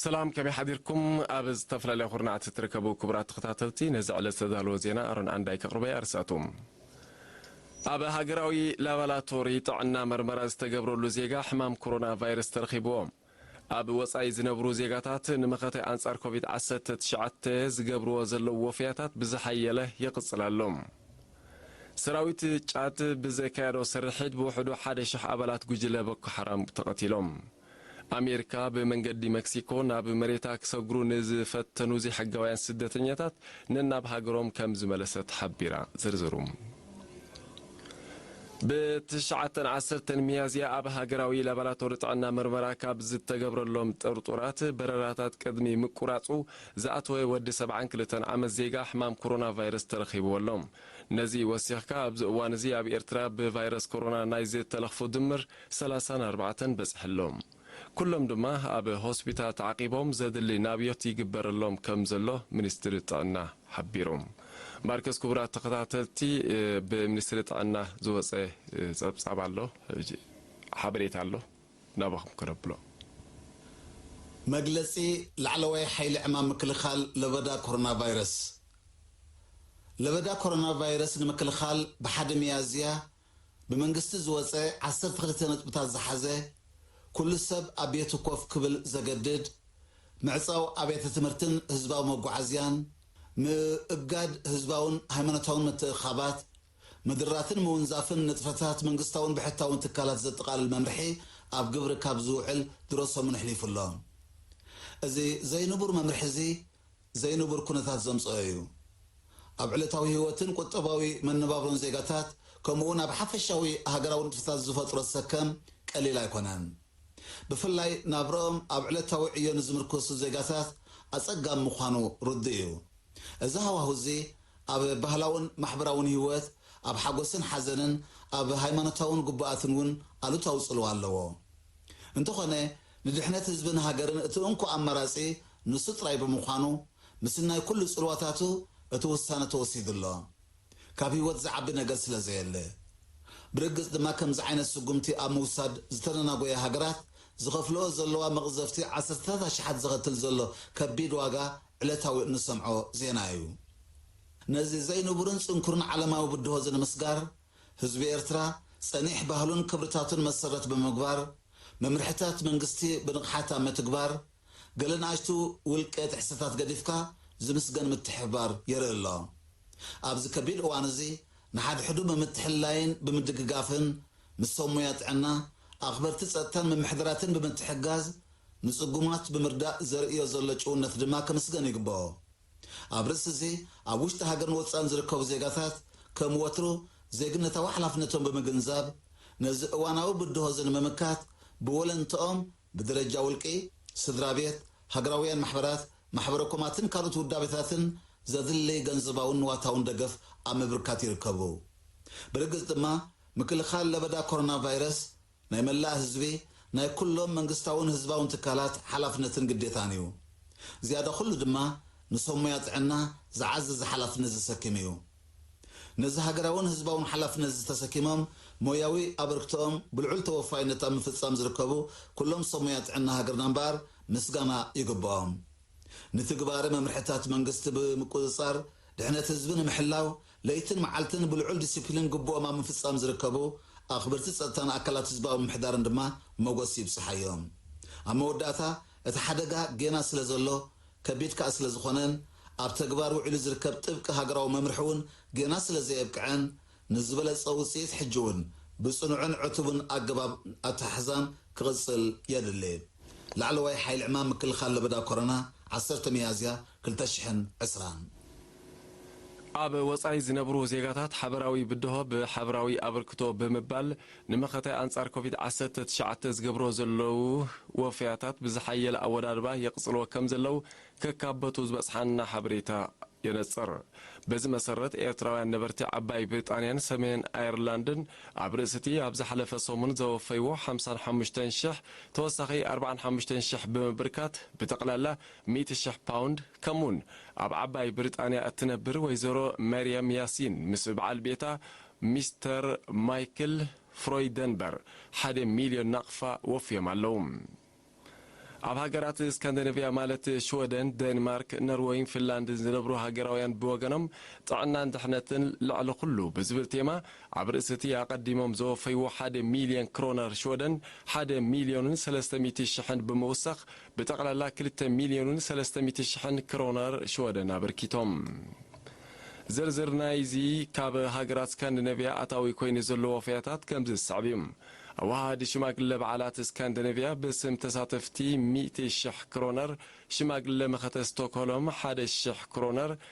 ሰላም ከመይ ሓዲርኩም ኣብ ዝተፈላለያ ኩርናዓት እትርከቡ ክቡራት ተኸታተልቲ ነዚ ዕለት ዝተዳለወ ዜና ኣሮን ዓንዳይ ከቕርበያ ኣርሳቱ ኣብ ሃገራዊ ላባላቶሪ ጥዕና መርመራ ዝተገብረሉ ዜጋ ሕማም ኮሮና ቫይረስ ተረኺብዎ። ኣብ ወጻኢ ዝነብሩ ዜጋታት ንመኸተ ኣንጻር ኮቪድ ዓሰርተ ትሽዓተ ዝገብርዎ ዘለዉ ወፈያታት ብዝሓየለ ይቕጽል ኣሎ። ሰራዊት ጫድ ብዘካየዶ ስርሒት ብውሕዱ ሓደ ሽሕ ኣባላት ጉጅለ ቦኮ ሓራም ተቐቲሎም። ኣሜሪካ ብመንገዲ መክሲኮ ናብ መሬታ ክሰግሩ ንዝፈተኑ ዘይሕጋውያን ስደተኛታት ነናብ ሃገሮም ከም ዝመለሰት ሓቢራ። ዝርዝሩ ብ ትሽዓተን ዓሰርተን ሚያዝያ ኣብ ሃገራዊ ላባራቶሪ ጥዕና ምርመራ ካብ ዝተገብረሎም ጥርጡራት በረራታት ቅድሚ ምቁራጹ ዝኣተወ ወዲ ሰብዓን ክልተን ዓመት ዜጋ ሕማም ኮሮና ቫይረስ ተረኺብዎ ኣሎ። ነዚ ወሲኽካ ኣብዚ እዋን እዚ ኣብ ኤርትራ ብቫይረስ ኮሮና ናይ ዝተለኽፉ ድምር ሰላሳን ኣርባዕተን በጽሐሎም። ኩሎም ድማ ኣብ ሆስፒታል ተዓቂቦም ዘድሊ ናብዮት ይግበረሎም ከም ዘሎ ሚኒስትሪ ጥዕና ሓቢሩ። ማርከስ ክቡራት ተኸታተልቲ ብሚኒስትሪ ጥዕና ዝወጸ ጸብጻብ ኣሎ ሓበሬታ ኣሎ ናባኹም ከነብሎ። መግለጺ ላዕለዋይ ሓይሊ ዕማም ምክልኻል ለበዳ ኮሮናቫይረስ ለበዳ ኮሮናቫይረስ ንምክልኻል ብሓደ ሚያዝያ ብመንግስቲ ዝወጸ ዓሰርተ ክልተ ነጥብታት ዝሓዘ፣ ኩሉ ሰብ ኣብ ቤቱ ኮፍ ክብል ዘገድድ፣ ምዕጻው ኣብያተ ትምህርትን ህዝባዊ መጓዓዝያን፣ ምእጋድ ህዝባውን ሃይማኖታውን ምትእኽኻባት፣ ምድራትን ምውንዛፍን ንጥፈታት መንግስታውን ብሕታውን ትካላት ዘጠቓልል መምርሒ ኣብ ግብሪ ካብ ዝውዕል ድሮ ሰሙን ኣሕሊፉ ኣሎ። እዚ ዘይንቡር መምርሒ'ዚ ዘይንቡር ኩነታት ዘምጽኦ እዩ። ኣብ ዕለታዊ ህይወትን ቁጠባዊ መነባብሮን ዜጋታት ከምኡ'ውን ኣብ ሓፈሻዊ ሃገራዊ ንጥፈታት ዝፈጥሮ ሰከም ቀሊል ኣይኮነን። ብፍላይ ናብርኦም ኣብ ዕለታዊ ዕዮ ንዝምርኩሱ ዜጋታት ኣጸጋሚ ምዃኑ ርዱእ እዩ። እዚ ሃዋሁ እዚ ኣብ ባህላውን ማሕበራውን ህይወት፣ ኣብ ሓጎስን ሓዘንን፣ ኣብ ሃይማኖታውን ግቡኣትን እውን ኣሉታዊ ጽልዋ ኣለዎ። እንተኾነ ንድሕነት ህዝብን ሃገርን እቲ እንኮ ኣማራጺ ንሱ ጥራይ ብምዃኑ፣ ምስናይ ኩሉ ጽልዋታቱ እቲ ውሳነ ተወሲዱ ኣሎ። ካብ ህይወት ዝዓቢ ነገር ስለ ዘየለ። ብርግጽ ድማ ከምዚ ዓይነት ስጉምቲ ኣብ ምውሳድ ዝተደናጎያ ሃገራት ዝኸፍልኦ ዘለዋ መቕዘፍቲ ዓሰርተታት ኣሽሓት ዘኸትል ዘሎ ከቢድ ዋጋ ዕለታዊ እንሰምዖ ዜና እዩ። ነዚ ዘይንቡርን ጽንኩርን ዓለማዊ ብድሆ'ዚ ንምስጋር፣ ህዝቢ ኤርትራ ጸኒሕ ባህሉን ክብርታቱን መሰረት ብምግባር፣ መምርሕታት መንግስቲ ብንቕሓት ኣብ ምትግባር፣ ገለ ንኣሽቱ ውልቀ ጥሕሰታት ገዲፍካ ዝምስገን ምትሕብባር የርኢ ኣሎ። ኣብዚ ከቢድ እዋን'ዚ ንሓድሕዱ ብምትሕልላይን ብምድግጋፍን፣ ምስ ሰብ ሞያ ጥዕና፣ ኣኽበርቲ ጸጥታን ምምሕዳራትን ብምትሕግጋዝ፣ ንጽጉማት ብምርዳእ ዘርእዮ ዘሎ ጭውነት ድማ ክምስገን ይግበኦ። ኣብ ርእሲ እዚ ኣብ ውሽጢ ሃገርን ወጻእን ዝርከቡ ዜጋታት ከም ወትሩ ዜግነታዊ ሓላፍነቶም ብምግንዛብ ነዚ እዋናዊ ብድሆ እዚ ንምምካት ብወለንትኦም ብደረጃ ውልቂ፣ ስድራቤት፣ ሃገራውያን ማሕበራት፣ ማሕበረኮማትን ካልኦት ውዳቤታትን ዘድሊ ገንዘባውን ንዋታውን ደገፍ ኣብ ምብርካት ይርከቡ። ብርግጽ ድማ ምክልኻል ለበዳ ኮሮናቫይረስ ናይ መላእ ህዝቢ፣ ናይ ኩሎም መንግስታውን ህዝባውን ትካላት ሓላፍነትን ግዴታን እዩ። ዝያዳ ኩሉ ድማ ንሰብ ሞያ ጥዕና ዝዓዝዝ ሓላፍነት ዘሰክም እዩ። ነዚ ሃገራውን ህዝባውን ሓላፍነት እዚ ተሰኪሞም ሞያዊ ኣበርክቶኦም ብልዑል ተወፋይነት ኣብ ምፍጻም ዝርከቡ ኩሎም ሰብ ሞያ ጥዕና ሃገርና እምበኣር ምስጋና ይግብኦም። ንትግባረ መምርሕታት መንግስቲ ብምቁጽጻር ድሕነት ህዝቢ ንምሕላው ለይትን መዓልትን ብልዑል ዲሲፕሊን ግቡኦም ኣብ ምፍፃም ዝርከቡ ኣኽበርቲ ፀጥታን ኣካላት ህዝባዊ ምምሕዳርን ድማ ሞጎስ ይብፀሓዮም። ኣብ መወዳእታ እቲ ሓደጋ ጌና ስለዘሎ ከቢድ ከዓ ስለዝኾነን ኣብ ተግባር ውዒሉ ዝርከብ ጥብቂ ሃገራዊ መምርሒ እውን ጌና ስለዘየብቅዐን ንዝበለፀ ውፅኢት ሕጂ እውን ብፅኑዕን ዕቱብን ኣገባብ ኣተሓሕዛን ክቕፅል የድሊ ላዕለዋይ ሓይሊ ዕማም ምክልኻል ለበዳ ኮረና ዓሰርተ ሚያዝያ ክልተ ሽሕን ዕስራን ኣብ ወጻኢ ዝነብሩ ዜጋታት ሓበራዊ ብድሆ ብሓበራዊ ኣበርክቶ ብምባል ንመኸተ ኣንጻር ኮቪድ ዓሰርተ ትሽዓተ ዝገብሮ ዘለዉ ወፈያታት ብዝሓየለ ኣወዳድባ የቕጽልዎ ከም ዘለዉ ከካበቱ ዝበጽሓና ሓበሬታ የነጽር። በዚ መሰረት ኤርትራውያን ነበርቲ ዓባይ ብሪጣንያን ሰሜን ኣየርላንድን ኣብ ርእሲ'ቲ ኣብ ዝሓለፈ ሰሙን ዘወፈይዎ ሓምሳን ሓሙሽተን ሽሕ ተወሳኺ ኣርባዓን ሓሙሽተን ሽሕ ብምብርካት ብጠቕላላ ሚእቲ ሽሕ ፓውንድ፣ ከምኡ'ውን ኣብ ዓባይ ብሪጣንያ እትነብር ወይዘሮ መርየም ያሲን ምስ በዓል ቤታ ሚስተር ማይክል ፍሮይደንበር ሓደ ሚልዮን ናቕፋ ወፍዮም ኣለዉ። ኣብ ሃገራት ስካንደነቭያ ማለት ሽወደን፣ ደንማርክ፣ ነርወይን ፊንላንድን ዝነብሩ ሃገራውያን ብወገኖም ጥዕናን ድሕነትን ልዕሊ ኹሉ ብዝብል ቴማ ኣብ ርእሲ'ቲ ኣቐዲሞም ዘወፈይዎ ሓደ ሚልዮን ክሮነር ሽወደን ሓደ ሚልዮንን ሰለስተ ሚእቲ ሽሕን ብምውሳኽ ብጠቕላላ ክልተ ሚልዮንን ሰለስተ ሚእቲ ሽሕን ክሮነር ሽወደን ኣበርኪቶም። ዝርዝር ናይዚ ካብ ሃገራት ስካንዲነቭያ ኣታዊ ኮይኑ ዘሎ ወፈያታት ከምዚ ዝስዕብ እዩ። ኣወሃሃዲ ሽማግለ በዓላት ስካንዲነቭያ ብስም ተሳተፍቲ ሚእቲ ሽሕ ክሮነር፣ ሽማግለ መኸተ ስቶክሆሎም ሓደ ሽሕ ክሮነር፣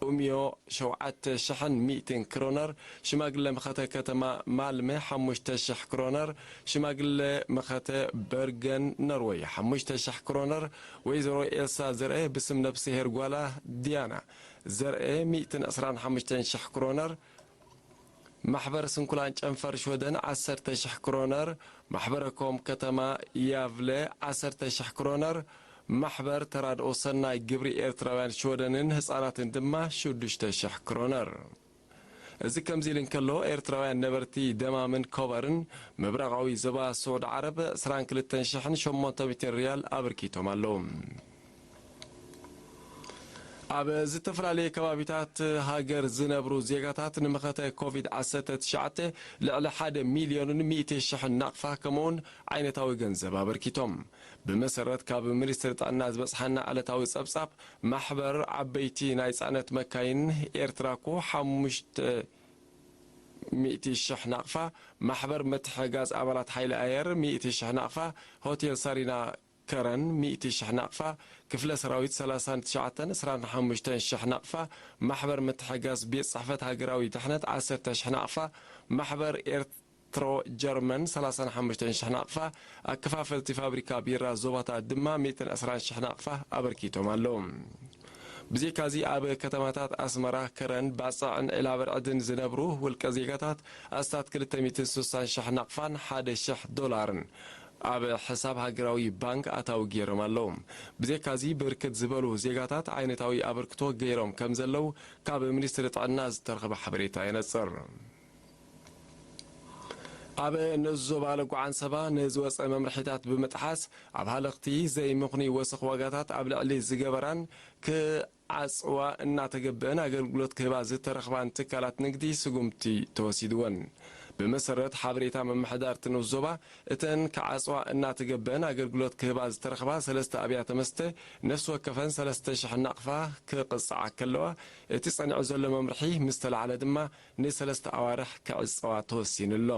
ኡምዮ ሸውዓተ ሽሕን ሚእቲን ክሮነር፣ ሽማግለ መኸተ ከተማ ማልመ ሓሙሽተ ሽሕ ክሮነር፣ ሽማግለ መኸተ በርገን ኖርወይ ሓሙሽተ ሽሕ ክሮነር፣ ወይዘሮ ኤልሳ ዘርኤ ብስም ነፍስሄር ጓላ ዲያና ዘርኤ ሚእትን ዕስራን ሓሙሽተን ሽሕ ክሮነር፣ ማሕበር ስንኩላን ጨንፈር ሽወደን ዓሰርተ ሽሕ ክሮነር፣ ማሕበረ ኮም ከተማ ያቭለ ዓሰርተ ሽሕ ክሮነር፣ ማሕበር ተራድኦ ሰናይ ግብሪ ኤርትራውያን ሽወደንን ህጻናትን ድማ ሽዱሽተ ሽሕ ክሮነር። እዚ ከምዚ ኢሉ እንከሎ፣ ኤርትራውያን ነበርቲ ደማምን ኮበርን ምብራቓዊ ዞባ ስዑድ ዓረብ ዕስራን ክልተን ሽሕን ሸሞንተ ሚእትን ርያል ኣብርኪቶም ኣለዉ። ኣብ ዝተፈላለየ ከባቢታት ሃገር ዝነብሩ ዜጋታት ንመኸተ ኮቪድ ዓሰርተ ትሽዓተ ልዕሊ ሓደ ሚልዮንን ሚእቲ ሽሕን ናቕፋ ከምኡ'ውን ዓይነታዊ ገንዘብ ኣበርኪቶም። ብመሰረት ካብ ሚኒስትሪ ጥዕና ዝበጽሓና ዕለታዊ ጸብጻብ፣ ማሕበር ዓበይቲ ናይ ጽዕነት መካይን ኤርትራኮ ሓሙሽተ ሚእቲ ሽሕ ናቕፋ፣ ማሕበር ምትሕግጋዝ ኣባላት ሓይሊ ኣየር ሚእቲ ሽሕ ናቕፋ፣ ሆቴል ሳሪና፣ ከረን ሚእቲ ሽሕ ናቕፋ፣ ክፍለ ሰራዊት ሰላሳን ትሽዓተን፣ ዕስራን ሓሙሽተን ሽሕ ናቕፋ፣ ማሕበር ምትሕጋዝ ቤት ጽሕፈት ሃገራዊ ድሕነት ዓሰርተ ሽሕ ናቕፋ፣ ማሕበር ኤርት ትሮ ጀርመን ሰላሳን ሓሙሽተን ሽሕ ናቕፋ፣ ኣከፋፈልቲ ፋብሪካ ቢራ ዞባታት ድማ ሚእትን ዕስራን ሽሕ ናቕፋ ኣበርኪቶም ኣለዉ። ብዜካዚ ኣብ ከተማታት ኣስመራ፣ ከረን፣ ባጽዕን ዒላበርዕድን ዝነብሩ ውልቀ ዜጋታት ኣስታት ክልተ ሚእትን ሱሳን ሽሕ ናቕፋን ሓደ ሽሕ ዶላርን ኣብ ሕሳብ ሃገራዊ ባንክ ኣታዊ ገይሮም ኣለዉ። ብዜካዚ ብርክት ዝበሉ ዜጋታት ዓይነታዊ ኣበርክቶ ገይሮም ከምዘለዉ ካብ ሚኒስትሪ ጥዕና ዝተረኽበ ሓበሬታ የነጽር። ኣብ ንኡስ ዞባ ለጉዓ ዓንሰባ ንዝወጸ መምርሒታት ብምጥሓስ ኣብ ሃለኽቲ ዘይምኽኑይ ወሰኽ ዋጋታት ኣብ ልዕሊ ዝገበራን ክ ኣጽዋር እናተገብእን ኣገልግሎት ክህባ ዝተረኽባን ትካላት ንግዲ ስጉምቲ ተወሲድወን። ብመሰረት ሓበሬታ ምምሕዳር'ቲ ንኡስ ዞባ፣ እተን ክዓጽዋ እናተገብእን ኣገልግሎት ክህባ ዝተረኽባ ሰለስተ ኣብያተ መስተ ነፍሲ ወከፈን ሰለስተ ሽሕ ናቕፋ ክቕጽዓ ከለዋ፣ እቲ ጸኒዑ ዘሎ መምርሒ ምስ ተላዕለ ድማ፣ ንሰለስተ ኣዋርሕ ክዕጸዋ ተወሲኑ ኣሎ።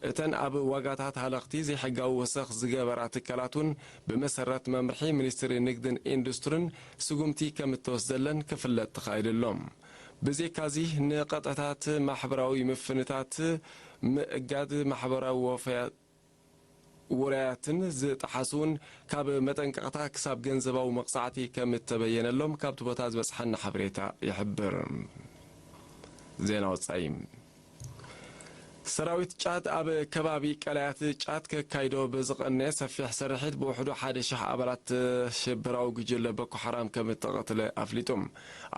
እተን ኣብ ዋጋታት ሃለኽቲ ዘይሕጋዊ ወሰኽ ዝገበራ ትካላት እውን ብመሰረት መምርሒ ሚኒስትሪ ንግድን ኢንዱስትርን ስጉምቲ ከም እተወስደለን ክፍለጥ ተኻኢሉ ኣሎ። ብዜካዚ ንቀጥዕታት ማሕበራዊ ምፍንታት ምእጋድ ማሕበራዊ ወፈያት፣ ውራያትን ዝጠሓሱን ካብ መጠንቀቕታ ክሳብ ገንዘባዊ መቕጻዕቲ ከም እተበየነሎም ካብቲ ቦታ ዝበጽሓና ሓበሬታ ይሕብር። ዜና ወጻኢ ሰራዊት ጫድ ኣብ ከባቢ ቀላያት ጫድ ከካይዶ ብዝቐነየ ሰፊሕ ስርሒት ብውሕዱ ሓደ ሽሕ ኣባላት ሽበራዊ ጉጅለ ቦኮ ሓራም ከም እተቐትለ ኣፍሊጡ።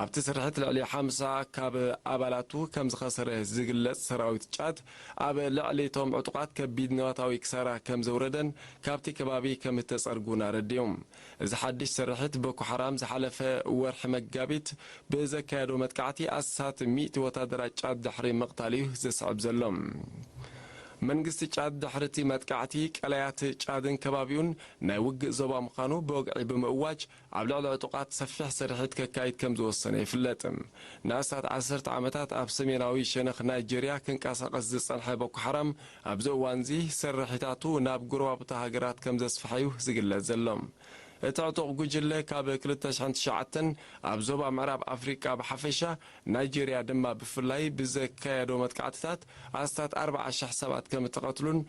ኣብቲ ስርሒት ልዕሊ ሓምሳ ካብ ኣባላቱ ከም ዝኸሰረ ዝግለጽ ሰራዊት ጫድ፣ ኣብ ልዕሊ እቶም ዕጡቓት ከቢድ ንዋታዊ ክሳራ ከም ዘውረደን ካብቲ ከባቢ ከም እተጸርጉን ኣረዲኡ። እዚ ሓድሽ ስርሒት ቦኮ ሓራም ዝሓለፈ ወርሒ መጋቢት ብዘካየዶ መጥቃዕቲ ኣስታት ሚእቲ ወታደራት ጫድ ድሕሪ ምቕታሉ'ዩ ዘስዕብ ዘሎ። መንግስቲ ጫድ ድሕሪ'ቲ መጥቃዕቲ ቀላያት ጫድን ከባቢኡን ናይ ውግእ ዞባ ምዃኑ ብወግዒ ብምእዋጅ፣ ኣብ ልዕሊ ዕጡቓት ሰፊሕ ስርሒት ከካይድ ከም ዝወሰነ ይፍለጥ። ንኣስታት ዓሰርተ ዓመታት ኣብ ሰሜናዊ ሸነኽ ናይጀርያ ክንቀሳቐስ ዝጸንሐ ቦኮሓራም፣ ኣብዚ እዋን'ዚ ስርሒታቱ ናብ ጎረባብቲ ሃገራት ከም ዘስፍሐ'ዩ ዝግለጽ ዘሎ። እቲ ዕጡቕ ጉጅለ ካብ ክልተ ሽሕን ትሽዓተን ኣብ ዞባ ምዕራብ ኣፍሪቃ ብሓፈሻ፣ ናይጀርያ ድማ ብፍላይ ብዘካየዶ መጥቃዕትታት ኣስታት ኣርብዓ ሽሕ ሰባት ከም እተቐትሉን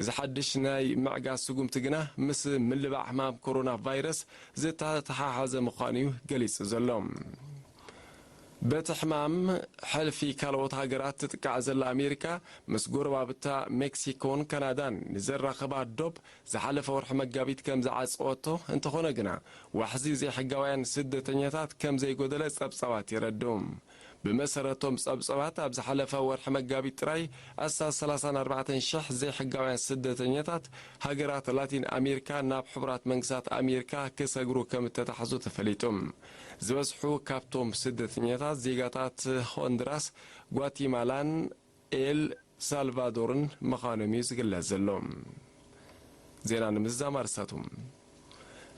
እዚ ሓድሽ ናይ ምዕጋት ስጉምቲ ግና ምስ ምልባዕ ሕማም ኮሮና ቫይረስ ዝተተሓሓዘ ምዃኑ'ዩ ገሊጹ ዘሎ። በቲ ሕማም ሕልፊ ካልኦት ሃገራት ትጥቃዕ ዘላ ኣሜሪካ፣ ምስ ጎረባብታ ሜክሲኮን ካናዳን ንዘራኽባ ዶብ ዝሓለፈ ወርሒ መጋቢት ከም ዝዓጸወቶ፣ እንተኾነ ግና ዋሕዚ ዘይሕጋውያን ስደተኛታት ከም ዘይጎደለ ጸብጻባት የረድኡ። ብመሰረቶም ጸብጸባት ኣብ ዝሓለፈ ወርሒ መጋቢት ጥራይ ኣስታት ሰላሳን ኣርባዕተን ሽሕ ዘይሕጋውያን ስደተኛታት ሃገራት ላቲን ኣሜርካ ናብ ሕቡራት መንግስታት ኣሜርካ ክሰግሩ ከም እተታሕዙ ተፈሊጡ። ዝበዝሑ ካብቶም ስደተኛታት ዜጋታት ሆንድራስ፣ ጓቲማላን፣ ኤል ሳልቫዶርን ምኻኖም እዩ ዝግለጽ ዘሎ። ዜና ንምዝዛም ኣርስታቱ።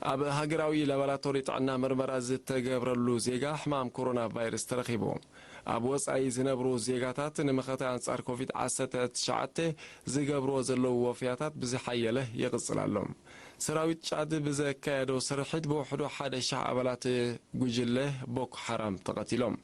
ኣብ ሃገራዊ ላባራቶሪ ጥዕና ምርመራ ዝተገብረሉ ዜጋ ሕማም ኮሮና ቫይረስ ተረኺቡ። ኣብ ወጻኢ ዝነብሩ ዜጋታት ንመኸተ ኣንጻር ኮቪድ ዓሰርተ ትሽዓተ ዝገብርዎ ዘለዉ ወፍያታት ብዝሓየለ ይቕጽል ኣሎ። ሰራዊት ጫድ ብዘካየዶ ስርሒት ብውሕዱ ሓደ ሽሕ ኣባላት ጉጅለ ቦኮ ሓራም ተቐቲሎም።